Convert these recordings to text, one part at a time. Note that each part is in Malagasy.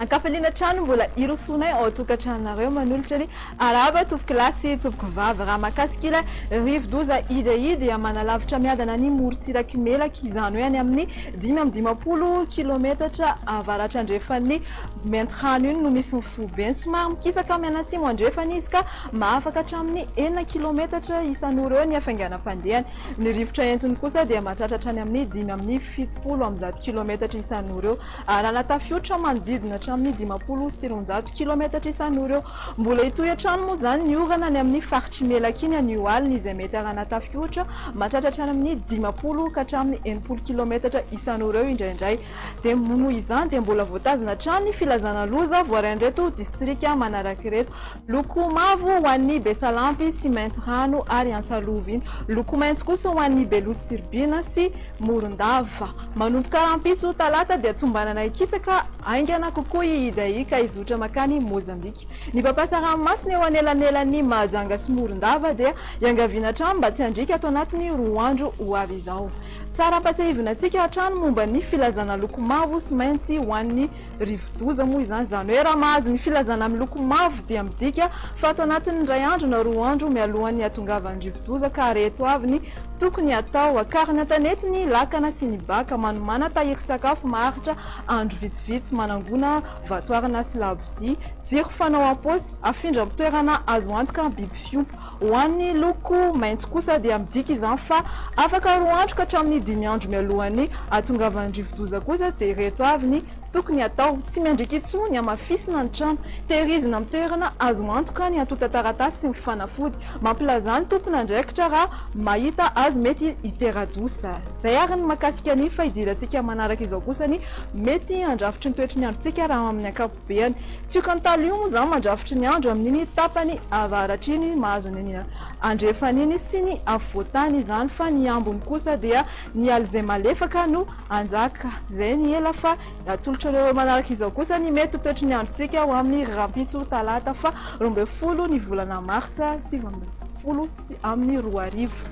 Ankafaliana hatrany mbola hirosoanay ao an-tokantranonareo manolotra ny arahaba tompoko lahy sy tompoko vavy raha mahakasika ilay rivodoza Idai dia manalavitra miadana ny morontsiraky Melaky izany hoe any amin'ny dimy amby dimampolo kilometatra avaratra andrefan'ny Maintirano iny no misy ny foibeny. Somary mikisaka mianatsimo andrefana izy ka mahafaka hatramin'ny enina kilaometatra isan'ora eo ny hafainganam-pandehany. Ny rivotra entiny kosa dia mahatratra hatrany amin'ny dimy amby fitopolo amby zato kilaometatra isan'ora eo. Alana tafiotra manodidina hatramin'ny dimampolo sy roanjato kilaometatra isan'ora eo. Mbola hitohy hatrany moa izany ny orana any amin'ny faritr'i Melaky iny anio alina izay mety harana tafiotra mahatratra hatrany amin'ny dimampolo ka hatramin'ny enimpolo kilaometatra isan'ora eo indraindray. Dia noho izany dia mbola voatazona hatrany ny filazana loza voaray an'ireto distrika manaraka ireto. Loko mavo ho an'ny Besalampy sy Maintirano ary Antsalovina. Loko maitso kosa ho an'ny Beloto sy Ribina sy Morondava. Manomboka rahampitso talata dia tombanana hikisaka haingana kokoa i Idai ka hizotra mankany Mozambika. Ny mpampiasa ranomasina eo anelanelan'i Mahajanga sy Morondava dia iangaviana hatrany mba tsy handriaka ato anatin'ny roa andro ho avy izao. Tsara ampatsiahivina antsika hatrany momba ny filazana loko mavo sy maintsy ho an'ny rivodoza moa izany. Izany hoe raha mahazo ny filazana miloko mavo dia midika fa ato anatin'ny iray andro na roa andro mialohan'ny hatongavan'ny rivodoza ka reto avy ny tokony hatao, Akarina an-tanety ny lakana sy ny baka, manomàna tahirin-tsakafo maharitra andro vitsivitsy, manangona vatoarina sy labozia, jiro fanao am-paosy, afindra amin'ny toerana azo antoka biby fiompy. Ho an'ny loko maitso kosa dia midika izany fa afaka roa andro ka hatramin'ny dimy andro mialohan'ny hahatongavan'ny rivodoza kosa dia ireto avy ny tokony hatao, tsy miandriaka intsony hamafisina ny trano, tehirizina amin'ny toerana azo antoka ny antontan-taratasy sy ny fanafody mampilaza ny tompon'andraikitra raha mahita azy mety hitera-doza. Izay ary ny mahakasika ny fahidirantsika manaraka izao kosa ny mety handrafitry ny toetry ny androntsika raha amin'ny ankapobeny. Beany. Tsy io kantalo io moa izany mandrafitry ny andro amin'iny tapany avaratra iny mahazo ny andrefana iny sy ny afovoantany izany fa ny ambony kosa dia ny alizé malefaka no hanjaka. Izay ny ela fa atolotro anareo manaraka izao kosa ny mety ho toetry ny androntsika ho amin'ny rahampitso talata faha roa ambin'ny folo ny volana martsa sivy ambin'ny folo sy amin'ny roa arivo.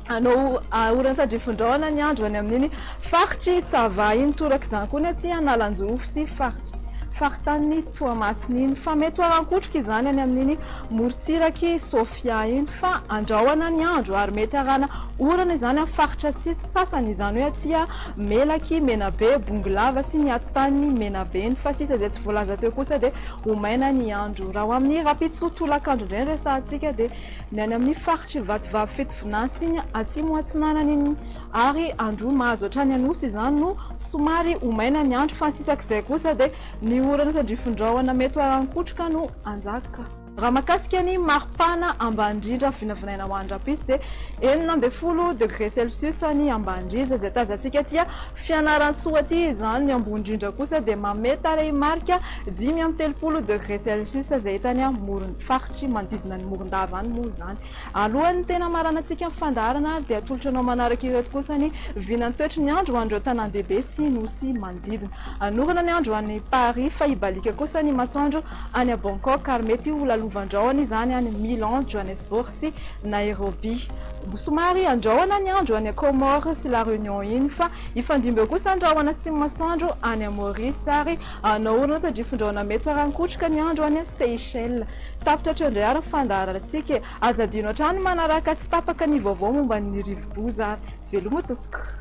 Hanao horan-tandrifin-drahona ny andro any amin'iny faritr'i Sava iny. Torak'izany koa ny aty Analanjirofo sy faritanin'i Toamasina iny. Fa mety ho aran-kotroka izany any amin'iny morontsirak'i Sofia iny. Fa andrahona ny andro ary mety haràna orana izany amin'ny faritra sasany, izany hoe aty Melaky, Menabe, Bongolava sy ny atotanin'i Menabe iny. Fa sisa izay tsy voalaza teo kosa dia ho maina ny andro. Raha ho amin'ny rahampitso tolakandro indray no resahantsika dia. Ny any amin'ny faritr'i Vatovavy Fitovinantsy iny atsimo atsinanana iny ary andro mahazo hatrany Anosy izany no somary ho maina ny andro fa ny sisa k'izay kosa dia ny orana sy andrifin-drahona mety ho alan-kotroka no hanjaka. Raha mahakasika ny maripana ambany indrindra vinavinaina ho any Rapiso dia enina ambin'ny folo degré celsius ny ambany indrindra izay tazantsika aty Fianarantsoa aty izany, ny ambony indrindra kosa dia manome tarehimarika dimy amby telopolo degré celsius izay hita any amoron'ny faritra. Tsy manodidina an'i Morondava any moa izany. Alohan'ny tena hamaranantsika ny fandaharana ary dia atolotra anao manaraka ireto kosa ny vinan'ny toetry ny andro ho an'ireo tanàn-dehibe sy nosy manodidina. Hanorana ny andro any Paris fa hibaliaka kosa ny masoandro any Bangkok ary mety ho lalovandrahona izany any Milan, Johannesburg sy Nairobi. Somary handrahona ny andro any Comores sy La Réunion iny fa hifandimby eo kosa ny rahona sy ny masoandro any Maurice ary Anao ory nata dry fondrahona mety ho arankotroka ny andro any Seychelles. Tapitra hatreo indray ary ny fandaharantsika e! Aza adino hatrany ny manaraka tsy tapaka ny vaovao momba ny rivodoza ary. Veloma tompoko.